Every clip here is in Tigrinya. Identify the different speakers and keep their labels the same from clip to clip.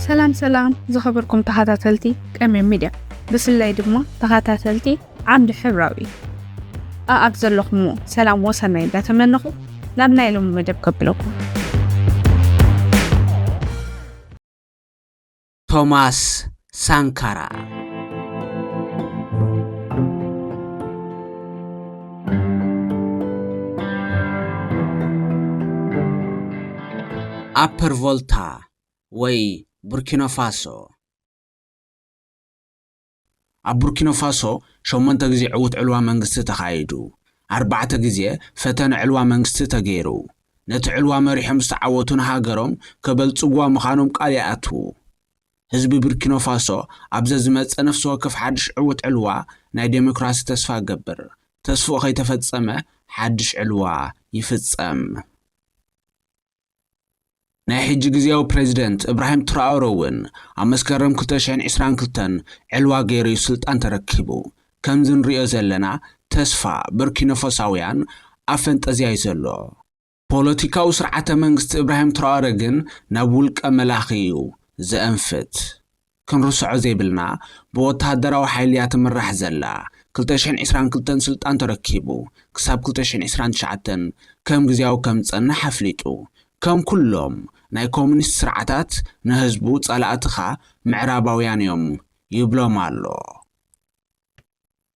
Speaker 1: ሰላም ሰላም ዝኸበርኩም ተኸታተልቲ ቀምም ሚድያ ብፍላይ ድማ ተኸታተልቲ ዓምዲ ሕብራዊ ኣኣብ ዘለኹምዎ ሰላም ወሰናይ እንዳተመነኹ ናብ ናይ ሎሚ መደብ ከብለኩም
Speaker 2: ቶማስ ሳንካራ ኣፐር ቮልታ ወይ ቡርኪኖፋሶ ኣብ ቡርኪኖፋሶ ሸሞንተ ግዜ ዕዉት ዕልዋ መንግስቲ ተኻይዱ። ኣርባዕተ ግዜ ፈተነ ዕልዋ መንግስቲ ተገይሩ። ነቲ ዕልዋ መሪሖም ዝተዓወቱ ንሃገሮም ከበልጽጉዋ ምኻኖም ቃል ይኣትዉ። ህዝቢ ብርኪኖፋሶ ኣብ ዘዝመጽእ ነፍሲ ወከፍ ሓድሽ ዕዉት ዕልዋ ናይ ደሞክራሲ ተስፋ ይገብር። ተስፍኡ ከይተፈጸመ ሓድሽ ዕልዋ ይፍጸም። ናይ ሕጂ ግዝያዊ ፕረዚደንት እብራሂም ትራኦረ እውን ኣብ መስከረም ክልተ ሽሕን ዕስራን ክልተን ዕልዋ ገይሩ እዩ ስልጣን ተረኪቡ። ከምዚ ንርእዮ ዘለና ተስፋ ቡርኪኖፎሳውያን ኣብ ፈንጠዝያ እዩ ዘሎ። ፖለቲካዊ ስርዓተ መንግስቲ እብራሂም ትራኦረ ግን ናብ ውልቀ መላኺ እዩ ዘእንፍት። ክንርስዖ ዘይብልና ብወተሃደራዊ ሓይሊ እያ ትምራሕ ዘላ ክልተ ሽሕን ዒስራን ክልተን ስልጣን ተረኪቡ ክሳብ ክልተ ሽሕን ዒስራን ትሽዓተን ከም ግዝያዊ ከም ዝጸንሕ ኣፍሊጡ ከም ኩሎም ናይ ኮሚኒስት ስርዓታት ንህዝቡ ጸላእትኻ ምዕራባውያን እዮም ይብሎም ኣሎ።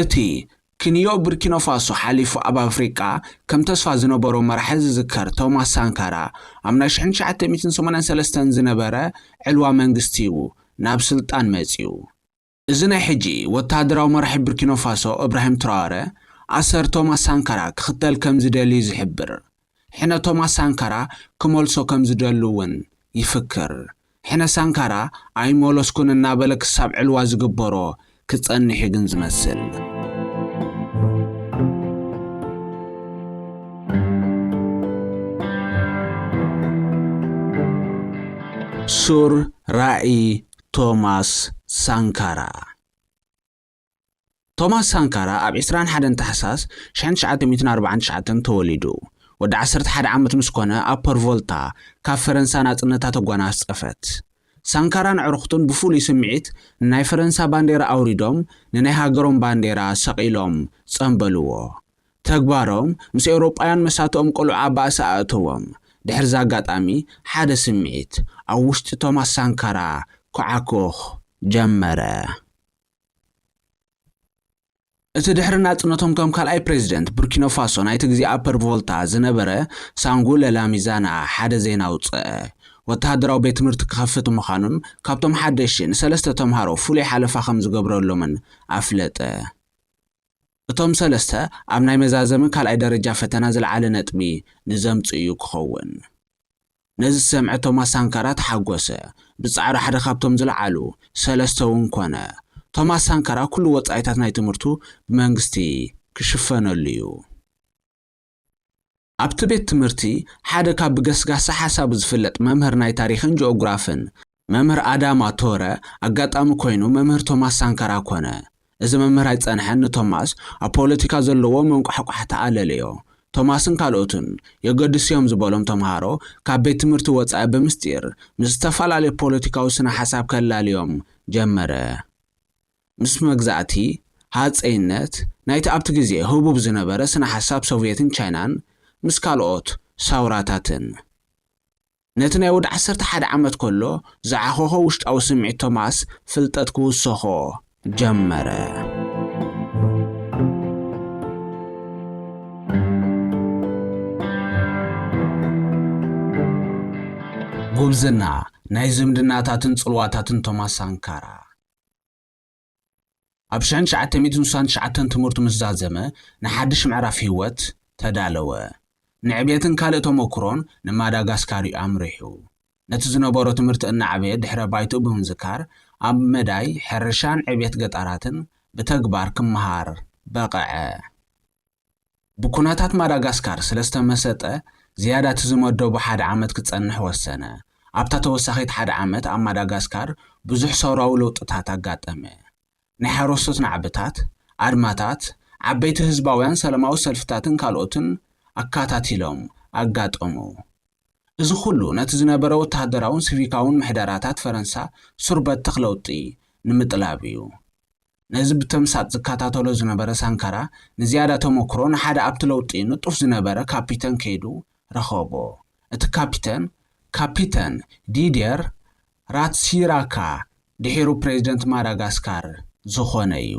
Speaker 2: እቲ ክንዮ ቡርኪኖፋሶ ሓሊፉ ኣብ ኣፍሪቃ ከም ተስፋ ዝነበሮ መራሒ ዝዝከር ቶማስ ሳንካራ ኣብ ናይ ሽሕን ትሽዓተ ሚእትን ሰማንያን ሰለስተን ዝነበረ ዕልዋ መንግስቲ ዩ ናብ ስልጣን መጺኡ። እዚ ናይ ሕጂ ወተሃደራዊ መራሒ ቡርኪኖፋሶ እብራሂም ትራወረ ኣሰር ቶማስ ሳንካራ ክኽተል ከም ዝደሊ ዩ ዝሕብር። ሕነ ቶማስ ሳንካራ ክመልሶ ከም ዝደሊ እውን ይፍክር። ሕነ ሳንካራ ኣይመለስኩን እናበለ ክሳብ ዕልዋ ዝግበሮ ክጸንሕ እዩ ግን ዝመስል። ሱር ራእይ ቶማስ ሳንካራ ቶማስ ሳንካራ ኣብ ዕስራን ሓደን ታሕሳስ ሽሕን ትሽዓተ ሚእትን ኣርብዓን ትሽዓተን ተወሊዱ። ወዲ ዓሰርተ ሓደ ዓመት ምስ ኮነ ኣብ ፐርቮልታ ካብ ፈረንሳ ናጽነታ ተጓናጸፈት። ሳንካራን ኣዕሩኽቱን ብፍሉይ ስምዒት ንናይ ፈረንሳ ባንዴራ ኣውሪዶም ንናይ ሃገሮም ባንዴራ ሰቒሎም ጸምበልዎ። ተግባሮም ምስ ኤውሮጳውያን መሳቱኦም ቅሉዕ ኣብ ባእሲ ኣእተዎም። ድሕሪ'ዚ ኣጋጣሚ ሓደ ስምዒት ኣብ ውሽጢ ቶማስ ሳንካራ ኩዓኩኽ ጀመረ። እቲ ድሕሪ ናጽነቶም ከም ካልኣይ ፕሬዚደንት ቡርኪኖፋሶ ናይቲ ግዜ ኣፐር ቮልታ ዝነበረ ሳንጉ ለላሚዛና ሓደ ዜና ኣውጽኣ። ወተሃደራዊ ቤት ትምህርቲ ክኸፍት ምዃኑን ካብቶም ሓደሽቲ ንሰለስተ ተምሃሮ ፍሉይ ሓለፋ ከም ዝገብረሎምን ኣፍለጠ። እቶም ሰለስተ ኣብ ናይ መዛዘሚ ካልኣይ ደረጃ ፈተና ዝለዓለ ነጥቢ ንዘምጽኡ'ዩ ክኸውን። ነዚ ዝሰምዐ ቶማስ ሳንካራ ተሓጎሰ። ብጻዕሩ ሓደ ካብቶም ዝለዓሉ ሰለስተ'ውን ኮነ። ቶማስ ሳንካራ ኩሉ ወጻኢታት ናይ ትምህርቱ ብመንግስቲ ክሽፈነሉ'ዩ። ኣብቲ ቤት ትምህርቲ ሓደ ካብ ብገስጋሲ ሓሳቡ ዝፍለጥ መምህር ናይ ታሪኽን ጂኦግራፍን መምህር ኣዳማ ቶረ ኣጋጣሚ ኮይኑ መምህር ቶማስ ሳንካራ ኮነ። እዚ መምህር ኣይጸንሐን ንቶማስ ኣብ ፖለቲካ ዘለዎ መንቋሕቋሕታ ኣለለዮ። ቶማስን ካልኦቱን የገድሱ'ዮም ዝበሎም ተምሃሮ ካብ ቤት ትምህርቲ ወጻኢ ብምስጢር ምስ ዝተፈላለዩ ፖለቲካዊ ስነ-ሓሳብ ከላልዮም ጀመረ። ምስ መግዛእቲ ሃጸይነት ናይቲ ኣብቲ ግዜ ህቡብ ዝነበረ ስነ-ሓሳብ ሶቭየትን ቻይናን ምስ ካልኦት ሳውራታትን፣ ነቲ ናይ ወዲ ዓሰርተ ሓደ ዓመት ከሎ ዝዓኾኾ ውሽጣዊ ስምዒት ቶማስ ፍልጠት ክውሰኾ ጀመረ። ጉብዝና ናይ ዝምድናታትን ጽልዋታትን ቶማስ ሳንካራ። ኣብ ሽሕን ትሽዓተ ሚእትን ስሳን ትሽዓተን ትምህርቱ ምስ ዛዘመ ንሓድሽ ምዕራፍ ህይወት ተዳለወ። ንዕብየትን ካልእ ተሞኩሮን ንማዳጋስካር እዩ ኣምሪሑ። ነቲ ዝነበሮ ትምህርቲ እናዕበየ ድሕረ ባይትኡ ብምዝካር ኣብ መዳይ ሕርሻን ዕብየት ገጠራትን ብተግባር ክመሃር በቐዐ። ብኩነታት ማዳጋስካር ስለዝተመሰጠ ዝያዳ እቲ ዝመደቦ ሓደ ዓመት ክጸንሕ ወሰነ። ኣብታ ተወሳኺት ሓደ ዓመት ኣብ ማዳጋስካር ብዙሕ ሰውራዊ ለውጥታት ኣጋጠመ። ናይ ሓረስቶት ናዕብታት፣ ኣድማታት፣ ዓበይቲ ህዝባውያን ሰለማዊ ሰልፍታትን ካልኦትን ኣካታቲሎም ኣጋጠሙ። እዚ ኩሉ ነቲ ዝነበረ ወተሃደራውን ስቪካውን ምሕደራታት ፈረንሳ ሱር በተኽ ለውጢ ንምጥላብ እዩ። ነዚ ብተምሳጥ ዝከታተሎ ዝነበረ ሳንካራ ንዝያዳ ተመክሮ ንሓደ ኣብቲ ለውጢ ንጡፍ ዝነበረ ካፒተን ከይዱ ረኸቦ። እቲ ካፒተን፣ ካፒተን ዲድየር ራትሲራካ ድሒሩ ፕሬዚደንት ማዳጋስካር ዝኾነ እዩ።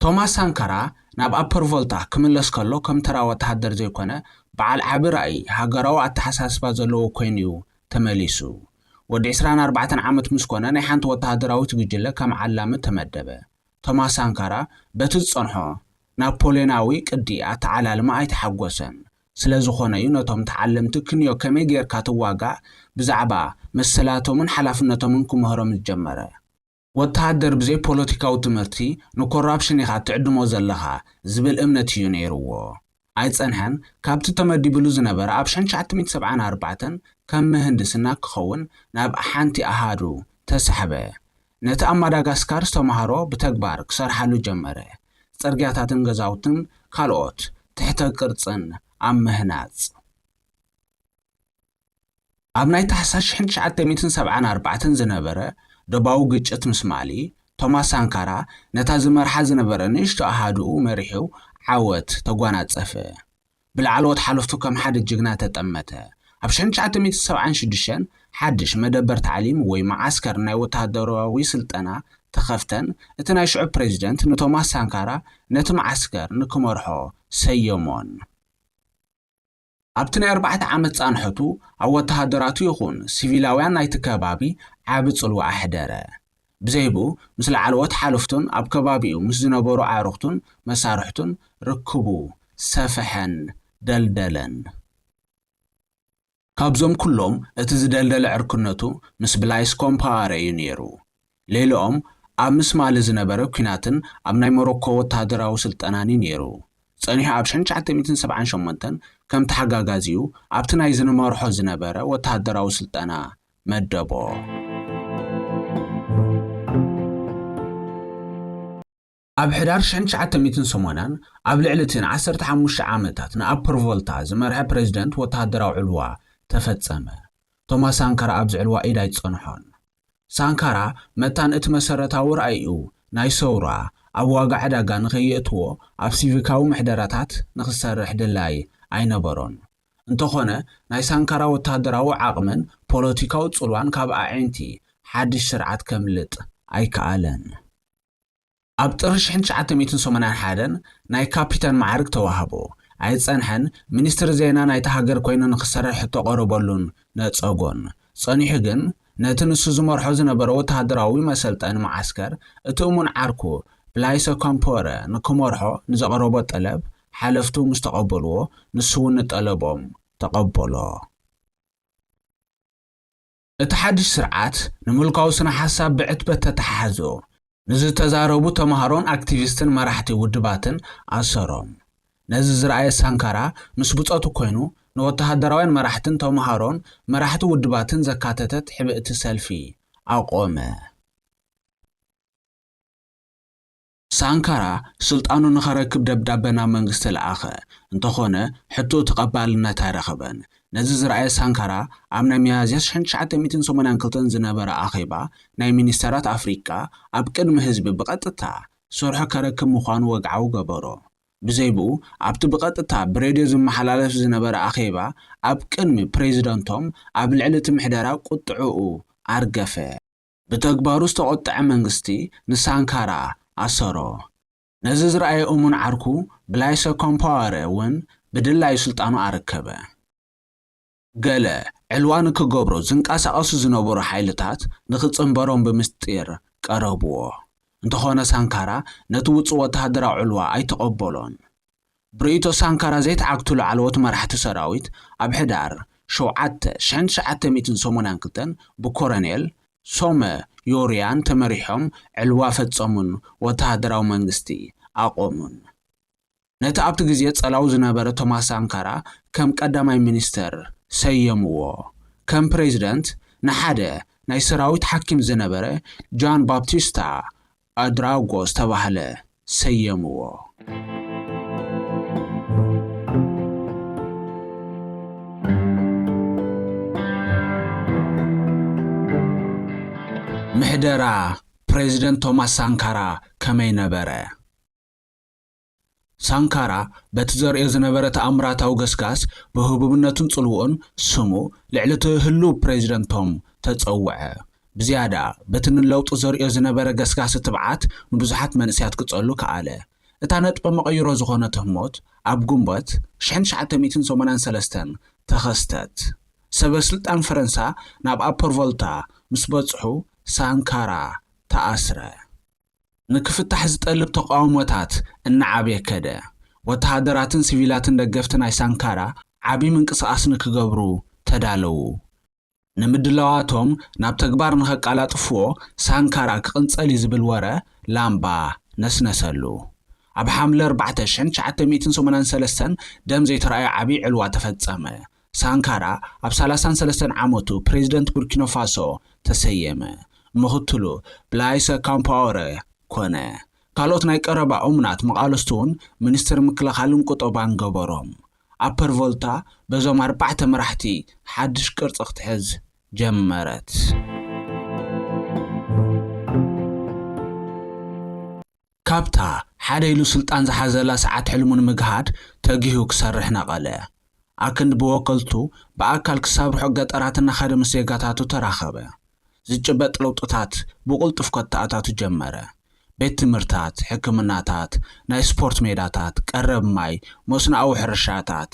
Speaker 2: ቶማስ ሳንካራ ናብ ኣፐር ቮልታ ክምለስ ከሎ ከም ተራ ወተሃደር ዘይኮነ በዓል ዓቢ ራኢ ሃገራዊ ኣተሓሳስባ ዘለዎ ኮይኑ'ዩ ተመሊሱ። ወዲ ዕስራን ኣርባዕተን ዓመት ምስ ኮነ ናይ ሓንቲ ወተሃደራዊት ጉጅለ ከም ዓላሚ ተመደበ። ቶማስ ሳንካራ በቲ ዝጸንሖ ናፖልዮናዊ ቅዲ ኣተዓላልማ ኣይተሓጎሰን። ስለዝኾነ'ዩ ነቶም ተዓለምቲ ክንዮ ከመይ ጌርካ ትዋጋእ ብዛዕባ መሰላቶምን ሓላፍነቶምን ክምህሮም ዝጀመረ። ወተሃደር ብዘይ ፖለቲካዊ ትምህርቲ ንኮራፕሽን ኢኻ ትዕድሞ ዘለኻ ዝብል እምነት ኢዩ ነይርዎ። ኣይጸንሐን ካብቲ ተመዲብሉ ዝነበረ ኣብ ሸን ትሽዓተ ሚእቲ ሰብዓን ኣርባዕተን ከም ምህንድስና ክኸውን ናብ ሓንቲ ኣሃዱ ተሳሕበ። ነቲ ኣብ ማዳጋስካር ዝተማህሮ ብተግባር ክሰርሓሉ ጀመረ። ጽርግያታትን ገዛውትን ካልኦት ትሕተ ቅርጽን ኣብ ምህናጽ። ኣብ ናይ ታሕሳስ ሽሕን ትሽዓተ ሚእትን ሰብዓን ኣርባዕተን ዝነበረ ዶባዊ ግጭት ምስ ማሊ፣ ቶማስ ሳንካራ ነታ ዝመርሓ ዝነበረ ንእሽቶ ኣሃዱኡ መሪሑ ዓወት ተጓናጸፈ። ብላዕለዎት ሓለፍቱ ከም ሓደ ጅግና ተጠመተ። ኣብ ሽሕን ትሽዓተ ሚእትን ሰብዓን ሽዱሽተን ሓድሽ መደበር ታዕሊም ወይ መዓስከር ናይ ወተሃደራዊ ስልጠና ተኸፍተን እቲ ናይ ሽዑ ፕረዚደንት ንቶማስ ሳንካራ ነቲ መዓስከር ንክመርሖ ሰየሞን። ኣብቲ ናይ ኣርባዕተ ዓመት ጻንሖቱ፣ ኣብ ወተሃደራቱ ይኹን ሲቪላውያን ናይቲ ከባቢ ዓቢ ጽልዋ ኣሕደረ። ብዘይብኡ፣ ምስ ላዕለዎት ሓለፍቱን ኣብ ከባቢኡ ምስ ዝነበሩ ኣዕሩኽቱን መሳርሕቱን ርክቡ ሰፍሐን ደልደለን። ካብዞም ኩሎም እቲ ዝደልደለ ዕርክነቱ ምስ ብላይስ ኮምፓወረ እዩ ነይሩ። ሌለኦም ኣብ ምስ ማሊ ዝነበረ ኲናትን ኣብ ናይ ሞሮኮ ወተሃደራዊ ስልጠናን'ዩ ነይሩ። ጸኒሑ ኣብ ሸን ትሽዓተ ሚእትን ሰብዓን ሸሞንተን ከም ተሓጋጋዚኡ ኣብቲ ናይ ዝንመርሖ ዝነበረ ወተሃደራዊ ስልጠና መደቦ። ኣብ ሕዳር ሽሕን ትሽዓተ ሚእትን ሰማንያን ኣብ ልዕሊ እቲ ንዓሰርተ ሓሙሽተ ዓመታት ንኣፐር ቮልታ ዝመርሐ ፕረዚደንት ወተሃደራዊ ዕልዋ ተፈጸመ። ቶማስ ሳንካራ ኣብዚ ዕልዋ ኢድ ኣይጸንሖን። ሳንካራ መታን እቲ መሰረታዊ ራኢኡ ናይ ሰውራ ኣብ ዋጋ ዕዳጋ ንኸየእትዎ ኣብ ሲቪካዊ ምሕደራታት ንኽሰርሕ ድላይ ኣይነበሮን። እንተኾነ ናይ ሳንካራ ወተሃደራዊ ዓቕምን ፖለቲካዊ ጽልዋን ካብ ኣዒንቲ ሓድሽ ስርዓት ከምልጥ ኣይከኣለን። ኣብ ጥሪ ሽሕን ትሽዓተ ሚእትን ሰሙናን ሓደን ናይ ካፒታን መዓርግ ተዋህቦ። ኣይጸንሐን፣ ሚኒስትሪ ዜና ናይታ ሃገር ኮይኑ ንኽሰርሕ ሕቶ ቀረበሉን ነጸጎን። ጸኒሑ ግን፣ ነቲ ንሱ ዝመርሖ ዝነበረ ወተሃደራዊ መሰልጠኒ መዓስከር እቲ እሙን ዓርኩ ብላይሰ ኮምፖረ ንክመርሖ ንዘቕረቦ ጠለብ ሓለፍቱ ምስ ተቐበልዎ ንሱ'ውን ንጠለቦም ተቐበሎ። እቲ ሓድሽ ስርዓት ንምልካዊ ስነ ሓሳብ ብዕትበት ተተሓሓዞ፣ ንዝተዛረቡ ተማሃሮን ኣክቲቪስትን መራሕቲ ውድባትን ኣሰሮም። ነዚ ዝረኣየ ሳንካራ ምስ ብጾቱ ኮይኑ ንወተሃደራውያን መራሕትን ተማሃሮን መራሕቲ ውድባትን ዘካተተት ሕብእቲ ሰልፊ ኣቖመ። ሳንካራ ስልጣኑ ንኸረክብ ደብዳበ ናብ መንግስቲ ለኣኸ፣ እንተኾነ ሕቶኡ ተቐባልነት ኣይረኸበን። ነዚ ዝረኣየ ሳንካራ ኣብ ናይ ሚያዝያ ሽሕን ትሽዓተ ሚእትን ሰማንያን ክልተን ዝነበረ ኣኼባ ናይ ሚኒስተራት ኣፍሪቃ ኣብ ቅድሚ ህዝቢ ብቐጥታ ስርሑ ከረክብ ምዃኑ ወግዓዊ ገበሮ። ብዘይብኡ ኣብቲ ብቐጥታ ብሬድዮ ዝመሓላለፍ ዝነበረ ኣኼባ ኣብ ቅድሚ ፕረዚደንቶም ኣብ ልዕሊ እቲ ምሕደራ ቁጥዕኡ ኣርገፈ። ብተግባሩ ዝተቖጠዐ መንግስቲ ንሳንካራ ኣሰሮ። ነዚ ዝረኣየ እሙን ዓርኩ ብላይሰ ኮምፓወረ እውን ብድላዩ ስልጣኑ ኣረከበ። ገለ ዕልዋ ንክገብሮ ዝንቀሳቐሱ ዝነበሩ ሓይልታት ንክጽንበሮም ብምስጢር ቀረብዎ። እንተኾነ ሳንካራ ነቲ ውጹእ ወተሃደራዊ ዕልዋ ኣይተቐበሎን። ብርእይቶ ሳንካራ ዘይተዓግቱ ላዕለዎት መራሕቲ ሰራዊት ኣብ ሕዳር ሸውዓተ፣ ሽሕን ትሽዓተ ሚእትን ሰሙናን ክልተን ብኮረኔል ሶመ ዮርያን ተመሪሖም ዕልዋ ፈጸሙን ወተሃደራዊ መንግስቲ ኣቖሙን። ነቲ ኣብቲ ግዜ ጸላው ዝነበረ ቶማስ ሳንካራ ከም ቀዳማይ ሚኒስተር ሰየምዎ። ከም ፕሬዚደንት ንሓደ ናይ ሰራዊት ሓኪም ዝነበረ ጃን ባፕቲስታ ኣድራጎ ዝተባህለ ሰየምዎ። ምሕደራ ፕረዚደንት ቶማስ ሳንካራ ከመይ ነበረ? ሳንካራ በቲ ዘርእዮ ዝነበረ ተኣምራታዊ ገስጋስ ብህቡብነቱን ጽልውኡን ስሙ ልዕሊ'ቲ ህሉው ፕረዚደንት ቶም ተጸውዐ። ብዝያዳ በቲ ንለውጢ ዘርእዮ ዝነበረ ገስጋሲ ትብዓት ንብዙሓት መንእሰያት ክጸሉ ከኣለ። እታ ነጥበ መቐይሮ ዝኾነት ህሞት ኣብ ግንቦት ሽሕን ትሽዓተ ሚእትን ሰማንያን ሰለስተን ተኸስተት። ሰበስልጣን ፈረንሳ ናብ ኣፐር ቮልታ ምስ በጽሑ ሳንካራ ተኣስረ። ንክፍታሕ ዝጠልብ ተቓውሞታት እናዓበየ ከደ። ወተሃደራትን ሲቪላትን ደገፍቲ ናይ ሳንካራ ዓቢ ምንቅስቓስ ንክገብሩ ተዳለዉ። ንምድላዋቶም ናብ ተግባር ንኸቃላጥፍዎ ሳንካራ ክቕንጸል እዩ ዝብል ወረ ላምባ ነስነሰሉ። ኣብ ሓምለ ኣርባዕተ ሽሕን ትሽዓተ ሚእትን ሰማንያን ሰለስተን ደም ዘይተራእዮ ዓቢ ዕልዋ ተፈጸመ። ሳንካራ ኣብ ሰላሳን ሰለስተን ዓመቱ ፕሬዝደንት ቡርኪኖፋሶ ተሰየመ። ምኽትሉ ብላይሰ ካምፓወረ ኮነ። ካልኦት ናይ ቀረባ እሙናት መቓልስቱ'ውን ሚኒስትር ምክልኻልን ቁጠባን ገበሮም። ኣፐር ቮልታ በዞም ኣርባዕተ መራሕቲ ሓድሽ ቅርጺ ክትሕዝ ጀመረት። ካብታ ሓደ ኢሉ ስልጣን ዝሓዘላ ሰዓት ሕልሙ ንምግሃድ ተጊሁ ክሰርሕ ነቐለ። ኣክንዲ ብወከልቱ ብኣካል ክሳብ ርሑቕ ገጠራት እናኸደ ምስ ዜጋታቱ ተራኸበ። ዝጭበጥ ለውጥታት ብቕልጡፍ ከተኣታቱ ጀመረ። ቤት ትምህርታት፣ ሕክምናታት፣ ናይ ስፖርት ሜዳታት፣ ቀረብ ማይ፣ መስኖኣዊ ሕርሻታት፣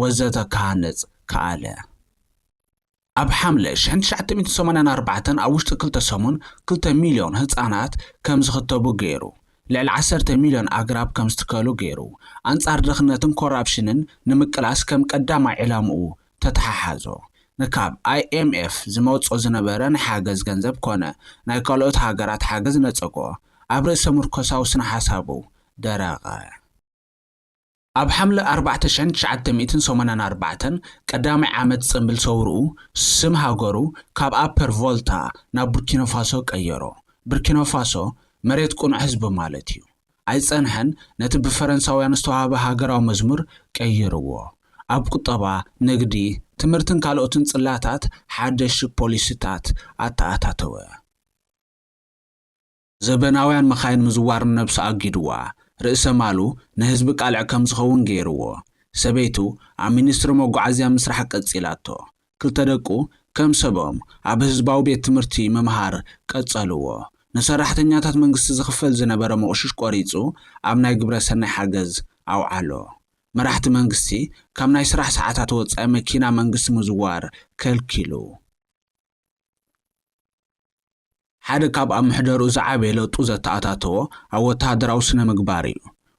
Speaker 2: ወዘተ ክሃንጽ ከኣለ። ኣብ ሓምለ ሽሕን ትሽዓተ ሚእትን ሰማንያን ኣርባዕተን ኣብ ውሽጢ ክልተ ሰሙን ክልተ ሚልዮን ህጻናት ከም ዝኽተቡ ገይሩ። ልዕሊ ዓሰርተ ሚልዮን ኣግራብ ከም ዝትከሉ ገይሩ። ኣንጻር ድኽነትን ኮራፕሽንን ንምቅላስ ከም ቀዳማይ ዕላምኡ ተተሓሓዞ። ንካብ IMF ዝመጾ ዝነበረ ናይ ሓገዝ ገንዘብ ኮነ ናይ ካልኦት ሃገራት ሓገዝ ነጸጎ። ኣብ ርእሰ-ምርኮሳዊ ስነ-ሓሳቡ ደረቐ። ኣብ ሓምለ ኣርባዕተ ሽሕን ትሽዓተ ሚእትን ሰማንያን ኣርባዕተን፣ ቀዳማይ ዓመት ጽንብል ሰውርኡ፣ ስም ሃገሩ ካብ ኣፐር ቮልታ ናብ ቡርኪኖፋሶ ቀየሮ። ብርኪኖፋሶ፣ መሬት ቅኑዕ ህዝቢ ማለት እዩ። ኣይጸንሐን፣ ነቲ ብፈረንሳውያን ዝተዋህበ ሃገራዊ መዝሙር ቀይርዎ። ኣብ ቁጠባ፣ ንግዲ፣ ትምህርትን ካልኦትን ጽላታት ሓደሽቲ ፖሊሲታት ኣተኣታተወ። ዘበናውያን መኻይን ምዝዋር ንነብሱ ኣጊዱዋ፣ ርእሰ ማሉ ንህዝቢ ቃልዕ ከም ዝኸውን ገይሩዎ። ሰበይቱ ኣብ ሚኒስትሪ መጓዓዝያ ምስራሕ ቀጺላቶ። ክልተ ደቁ ከም ሰቦም ኣብ ህዝባዊ ቤት ትምህርቲ ምምሃር ቀጸሉዎ። ንሰራሕተኛታት መንግስቲ ዝኽፈል ዝነበረ ሞቕሽሽ ቆሪጹ ኣብ ናይ ግብረ ሰናይ ሓገዝ ኣውዓሎ። መራሕቲ መንግስቲ ካብ ናይ ስራሕ ሰዓታት ወጻኢ መኪና መንግስቲ ምዝዋር ከልኪሉ። ሓደ ካብ ኣብ ምሕደርኡ ዝዓበየ ለውጢ ዘተኣታተዎ ኣብ ወተሃደራዊ ስነ-ምግባር እዩ።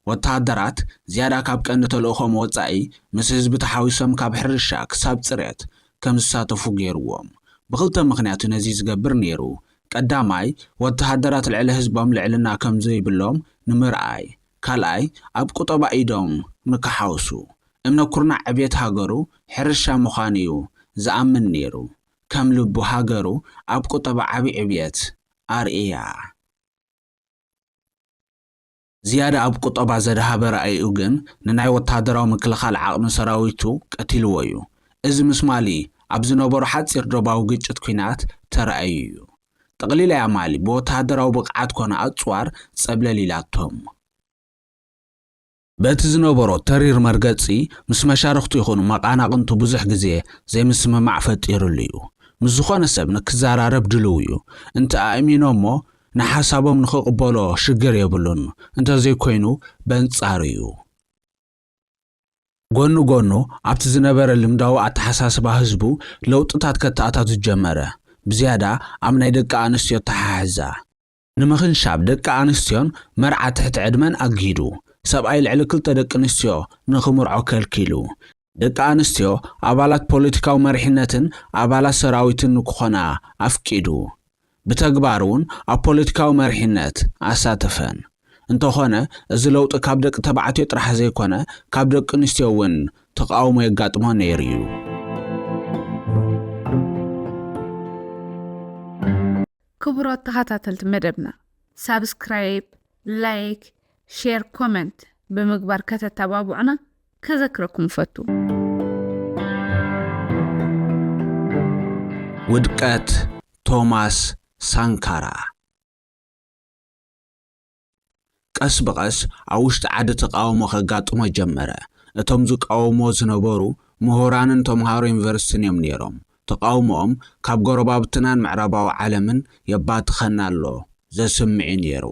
Speaker 2: ወተሃደራት፣ ዝያዳ ካብ ቀንዲ ተልእኾኦም ወጻኢ፣ ምስ ህዝቢ ተሓዊሶም ካብ ሕርሻ ክሳብ ጽርየት ከም ዝሳተፉ ገይሩዎም። ብኽልተ ምኽንያት እዩ ነዚ ዝገብር ነይሩ፣ ቀዳማይ፣ ወተሃደራት ልዕሊ ህዝቦም ልዕልና ከም ዘይብሎም ንምርኣይ፣ ካልኣይ ኣብ ቁጠባ ኢዶም ንክሓውሱ፣ እምነ ኩርናዕ ዕብየት ሃገሩ ሕርሻ ምዃኑ'ዩ ዝኣምን ነይሩ። ከም ልቡ ሃገሩ ኣብ ቁጠባ ዓቢ ዕብየት ኣርእያ። ዝያዳ ኣብ ቁጠባ ዘድሃበ ራኢኡ ግን ንናይ ወተሃደራዊ ምክልኻል ዓቕሚ ሰራዊቱ ቀቲልዎ'ዩ። እዚ ምስ ማሊ ኣብ ዝነበሮ ሓጺር ዶባዊ ግጭት ኲናት ተራእዩ'ዩ። ጠቕሊላ እያ ማሊ ብወተሃደራዊ ብቕዓት ኮነ ኣጽዋር ጸብለል ኢላቶም። በቲ ዝነበሮ ተሪር መርገጺ ምስ መሻርኽቱ ይኹኑ መቓናቕንቱ ብዙሕ ግዜ ዘይምስምማዕ ፈጢርሉ እዩ። ምስ ዝኾነ ሰብ ንክዘራረብ ድልው እዩ። እንተ ኣእሚኖሞ ንሓሳቦም ንክቕበሎ ሽግር የብሉን፣ እንተዘይኮይኑ በንጻሩ እዩ። ጎኒ ጎኑ ኣብቲ ዝነበረ ልምዳዊ ኣተሓሳስባ ህዝቡ ለውጥታት ከተኣታቱ ጀመረ፣ ብዝያዳ ኣብ ናይ ደቂ ኣንስትዮ ኣተሓሕዛ። ንምኽንሻብ ደቂ ኣንስትዮን መርዓ ትሕቲ ዕድመን ኣጊዱ፣ ሰብኣይ ልዕሊ ክልተ ደቂ ኣንስትዮ ንኽምርዖ ከልኪሉ፣ ደቂ ኣንስትዮ ኣባላት ፖለቲካዊ መሪሕነትን ኣባላት ሰራዊትን ንክኾና ኣፍቂዱ፣ ብተግባር እውን ኣብ ፖለቲካዊ መሪሕነት ኣሳተፈን። እንተኾነ እዚ ለውጢ ካብ ደቂ ተባዕትዮ ጥራሕ ዘይኮነ ካብ ደቂ ኣንስትዮ እውን ተቓውሞ የጋጥሞ ነይሩ እዩ።
Speaker 1: ክቡራት ተኸታተልቲ መደብና ሳብስክራይብ፣ ላይክ፣ ሼር፣ ኮመንት ብምግባር ከተተባብዑና ከዘክረኩም እፈቱ።
Speaker 2: ውድቀት ቶማስ ሳንካራ ቀስ ብቐስ ኣብ ውሽጢ ዓዲ ተቃውሞ ከጋጥሞ ጀመረ። እቶም ዝቃወምዎ ዝነበሩ ምሁራንን ተምሃሮ ዩኒቨርሲቲን እዮም ነይሮም። ተቃውሞኦም ካብ ጎረባብትናን ምዕራባዊ ዓለምን የባትኸና ኣሎ ዘስምዕ'ዩ ነይሩ።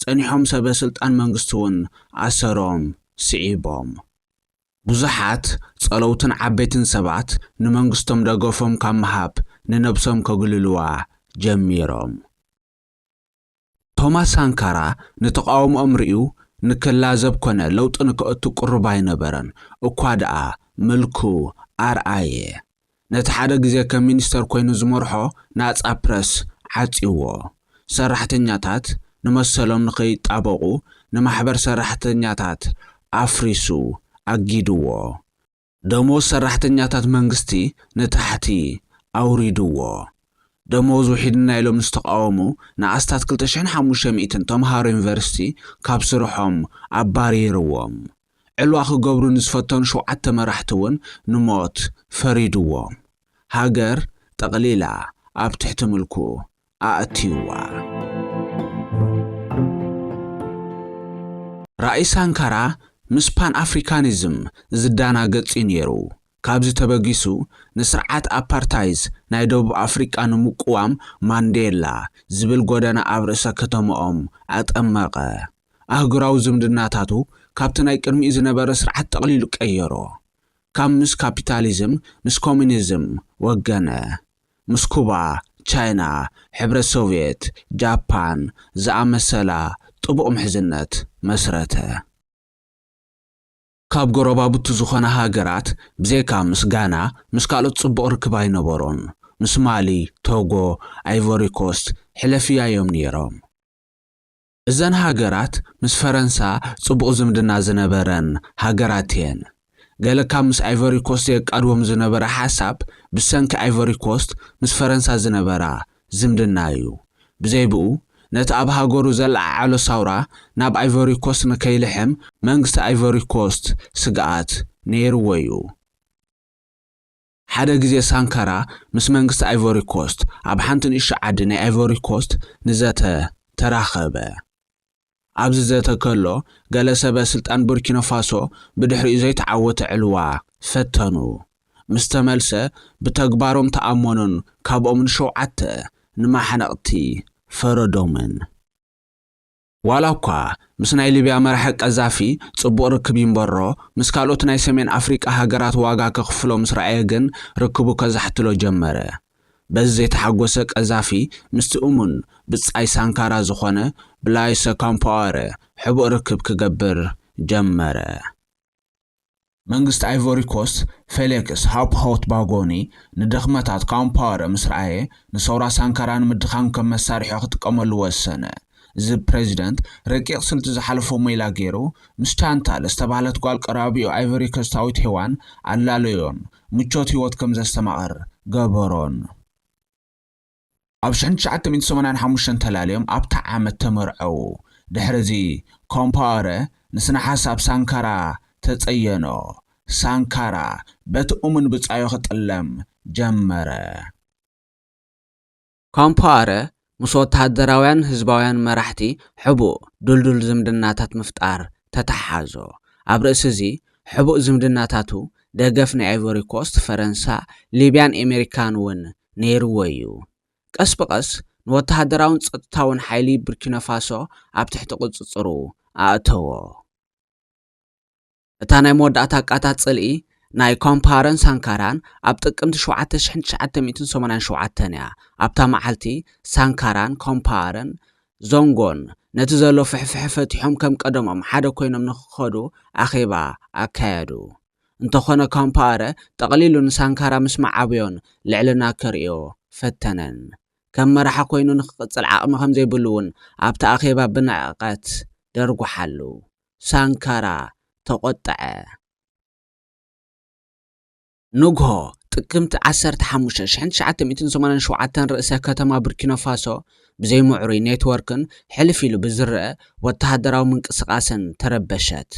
Speaker 2: ጸኒሖም ሰበ ስልጣን መንግስቲ'ውን ኣሰሮም ስዒቦም። ብዙሓት ጸለውትን ዓበይትን ሰባት ንመንግስቶም ደገፎም ካብ ምሃብ ንነብሶም ከግልልዋ ጀሚሮም። ቶማስ ሳንካራ ንተቓውሞኦም ርእዩ ንክላዘብ ኮነ ለውጢ ንከእቱ ቅሩብ ኣይነበረን፣ እኳ ደኣ ምልኩ ኣርኣየ። ነቲ ሓደ ግዜ ከም ሚኒስተር ኰይኑ ዝመርሖ ናጻ ፕረስ ዓጽዩዎ። ሰራሕተኛታት ንመሰሎም ንኸይጣበቑ ንማሕበር ሰራሕተኛታት ኣፍሪሱ ኣጊዱዎ። ደሞዝ ሰራሕተኛታት መንግስቲ ንታሕቲ ኣውሪዱዎ። ደሞዝ ውሒድና ኢሎም ንዝተቓወሙ ንኣስታት ክልተ ሽሕን ሓሙሽተ ሚእትን ተመሃሮ ዩኒቨርሲቲ ካብ ስርሖም ኣባሪሩዎም። ዕልዋ ክገብሩ ንዝፈተኑ ሸውዓተ መራሕቲ እውን ንሞት ፈሪድዎም ሃገር ጠቕሊላ ኣብ ትሕቲ ምልኩ ኣእትዩዋ። ራእይ ሳንካራ ምስ ፓን ኣፍሪካኒዝም ዝዳናገጽ እዩ ነይሩ። ካብዚ ተበጊሱ ንስርዓት ኣፓርታይዝ ናይ ደቡብ ኣፍሪቃ ንምቁዋም ማንዴላ ዝብል ጎደና ኣብ ርእሰ ከተመኦም ኣጠመቐ። ኣህጉራዊ ዝምድናታቱ ካብቲ ናይ ቅድሚኡ ዝነበረ ስርዓት ጠቕሊሉ ቀየሮ። ካብ ምስ ካፒታሊዝም ምስ ኮሚኒዝም ወገነ። ምስ ኩባ፣ ቻይና፣ ሕብረት ሶቭየት፣ ጃፓን ዝኣመሰላ ጥቡቕ ምሕዝነት መስረተ። ካብ ጎረባብቱ ዝኾና ሃገራት ብዘይካ ምስ ጋና ምስ ካልኦት ጽቡቕ ርክብ ኣይነበሮን። ምስ ማሊ፣ ቶጎ፣ ኣይቮሪኮስት ሕለፍያ'ዮም ነይሮም። እዘን ሃገራት ምስ ፈረንሳ ጽቡቕ ዝምድና ዝነበረን ሃገራት'የን። ገለ ካብ ምስ ኣይቨሪኮስት የቃድዎም ዝነበረ ሓሳብ ብሰንኪ ኣይቨሪኮስት ምስ ፈረንሳ ዝነበራ ዝምድና'ዩ። ብዘይብኡ ነቲ ኣብ ሃገሩ ዘለዓዓሎ ሳውራ ናብ ኣይቨሪኮስት ንከይልሕም መንግስቲ ኣይቨሪኮስት ስግኣት ነይርዎ'ዩ። ሓደ ግዜ ሳንካራ ምስ መንግስቲ ኣይቮሪ ኮስት ኣብ ሓንቲ ንእሽቶ ዓዲ ናይ ኣይቮሪ ኮስት ንዘተ ተራኸበ። ኣብዚ ዘተ ከሎ ገለ ሰበ ስልጣን ቡርኪኖ ፋሶ ብድሕሪኡ ዘይተዓወተ ዕልዋ ፈተኑ። ምስ ተመልሰ ብተግባሮም ተኣመኑን ካብኦም ንሸውዓተ ንማሕነቕቲ ፈረዶምን። ዋላ እኳ ምስ ናይ ሊብያ መራሒ ቀዛፊ ጽቡቕ ርክብ ይንበሮ፣ ምስ ካልኦት ናይ ሰሜን ኣፍሪቃ ሃገራት ዋጋ ከኽፍሎ ምስ ረኣየ ግን ርክቡ ከዛሕትሎ ጀመረ። በዚ ዘይተሓጎሰ ቀዛፊ ምስቲ እሙን ብጻይ ሳንካራ ዝኾነ ብላይሰ ኮምፓወረ ሕቡእ ርክብ ክገብር ጀመረ። መንግስቲ ኣይቮሪኮስት ፌሌክስ ሃውፕ-ሆት-ባጎኒ ንድኽመታት ካውምፓወረ ምስ ረኣየ፣ ንሰውራ ሳንካራ ንምድኻም ከም መሳርሒኡ ክጥቀመሉ ወሰነ። እዚ ፕረዚደንት ረቂቕ ስልቲ ዝሓለፎ ሜላ ገይሩ፣ ምስ ቻንታል ዝተባህለት ጓል ቀራቢኡ ኣይቮሪኮስታዊት ሄዋን ኣላለዮን ምቾት ህይወት ከም ዘስተማቕር ገበሮን። ኣብ ሽሕን ትሽዓተ ሚእትን ሰማንያን ሓሙሽተን ተላልዮም ኣብታ ዓመት ተመርዐዉ። ድሕርዚ ኮምፓወረ ንስነ-ሓሳብ ሳንካራ ተጸየኖ። ሳንካራ በቲ እሙን ብጻዩ ክጥለም ጀመረ። ኮምፓወረ ምስ ወተሃደራውያን ህዝባውያን መራሕቲ ሕቡእ ድልዱል ዝምድናታት ምፍጣር ተተሓሓዞ። ኣብ ርእሲ'ዚ ሕቡእ ዝምድናታቱ ደገፍ ንኣይቮሪኮስት፣ ፈረንሳ፣ ሊብያን ኤመሪካን'ውን ነይርዎ እዩ። ቀስ ብቐስ ንወተሃደራውን ጸጥታውን ሓይሊ ቡርኪናፋሶ ኣብ ትሕቲ ቁጽጽሩ ኣእተዎ። እታ ናይ መወዳእታ ቃታት ጽልኢ ናይ ኮምፓረን ሳንካራን ኣብ ጥቅምቲ ሸውዓተ ሽሕን ትሽዓተ ሚእትን ሰማንያን ሸውዓተን እያ። ኣብታ መዓልቲ፣ ሳንካራን ኮምፓረን ዞንጎን ነቲ ዘሎ ፍሕፍሐ ፈቲሖም ከም ቀደሞም ሓደ ኰይኖም ንኽኸዱ ኣኼባ ኣካየዱ። እንተኾነ ካምፓኣረ ጠቕሊሉ ንሳንካራ ምስ መዓበዮን ልዕልና ከርእዮ ፈተነን። ከም መራሒ ኮይኑ ንክቕጽል ዓቕሚ ከምዘይብሉ'ውን ኣብቲ ኣኼባ ብንዕቐት ደርጉሓሉ። ሳንካራ ተቖጠዐ። ንግሆ ጥቅምቲ ዓሰርተ ሓሙሽተ ሽሕን ትሽዓተ ሚእትን ሰማንያን ሸውዓተን ርእሰ ከተማ ቡርኪኖፋሶ ብዘይ ምዕሩይ ኔትወርክን ሕልፍ ኢሉ ብዝረኣ ወተሃደራዊ ምንቅስቓስን ተረበሸት።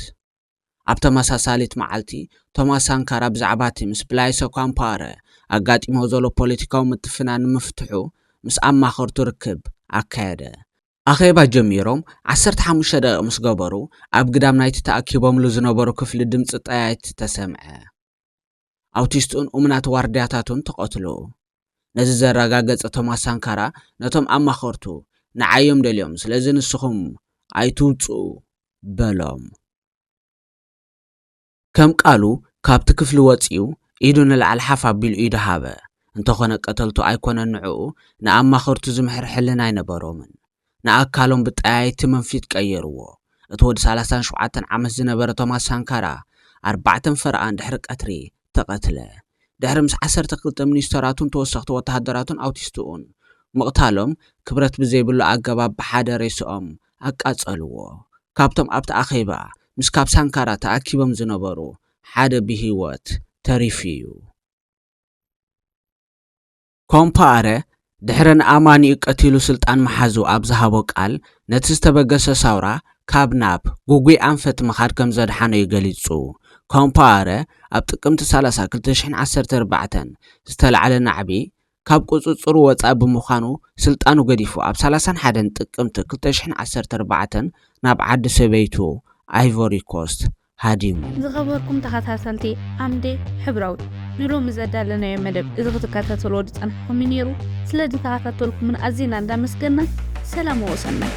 Speaker 2: ኣብ ተመሳሳሊት መዓልቲ፣ ቶማስ ሳንካራ ብዛዕባ'ቲ ምስ ብላይሰ ኳምፓረ ኣጋጢምዎ ዘሎ ፖለቲካዊ ምትፍናን ንምፍትሑ ምስ ኣማኸርቱ ርክብ ኣካየደ። ኣኼባ ጀሚሮም ዓሰርተ ሓሙሽተ ደቒቕ ምስ ገበሩ፣ ኣብ ግዳም ናይቲ ተኣኪቦምሉ ዝነበሩ ክፍሊ ድምጺ ጠያይት ተሰምዐ። ኣውቲስትኡን እሙናት ዋርድያታቱን ተቐትሉ። ነዚ ዘረጋገጸ ቶማስ ሳንካራ ነቶም ኣማኸርቱ፣ ንዓይ እዮም ደልዮም፣ ስለዚ ንስኹም ኣይትውጽኡ በሎም። ከም ቃሉ ካብቲ ክፍሊ ወጺኡ ኢዱ ንላዕሊ ሓፍ ኣቢሉ ኢዱ ሃበ። እንተኾነ ቀተልቱ ኣይኮነን ንዕኡ፣ ንኣማኸርቱ ዝምሕር ሕልና ኣይነበሮምን። ንኣካሎም ብጠያይቲ መንፊት ቀየርዎ። እቲ ወዲ ሰላሳን ሸውዓተን ዓመት ዝነበረ ቶማስ ሳንካራ፣ ኣርባዕተን ፈረቓን ድሕሪ ቀትሪ ተቐትለ። ድሕሪ ምስ ዓሰርተ ክልተ ሚኒስተራቱን ተወሰኽቲ ወተሃደራቱን ኣውቲስትኡን ምቕታሎም፣ ክብረት ብዘይብሉ ኣገባብ ብሓደ ሬስኦም ኣቃጸልዎ። ካብቶም ኣብቲ ኣኼባ ምስ ካብ ሳንካራ ተኣኪቦም ዝነበሩ ሓደ ብህይወት ተሪፉ'ዩ። ኮምፓኣረ ድሕሪ ንኣማኒኡ ቀቲሉ ስልጣን ምሓዙ ኣብ ዝሃቦ ቃል፣ ነቲ ዝተበገሰ ሳውራ ካብ ናብ ግጉይ ኣንፈት ምኻድ ከም ዘድሓነ'ዩ ገሊጹ። ኮምፓኣረ ኣብ ጥቅምቲ ሰላሳ ክልተ ሽሕን ዓሰርተ ኣርባዕተን ዝተላዕለ ናዕቢ ካብ ቁጽጽሩ ወጻኢ ብምዃኑ ስልጣኑ ገዲፉ ኣብ ሰላሳን ሓደን ጥቅምቲ ክልተ ሽሕን ዓሰርተ ኣርባዕተን ናብ ዓዲ ሰበይቱ ኣይቮሪኮስት ሃዲሙ። ዝኸበርኩም
Speaker 1: ተኸታተልቲ ዓምደ ሕብራዊ፣ ንሎሚ ዘዳለናዮ መደብ እዚ ክትከታተልዎ ዝጸናሕኩም እዩ ነይሩ። ስለ ዝተኸታተልኩምና ኣዚና እንዳመስገንና ሰላም ወሰናይ።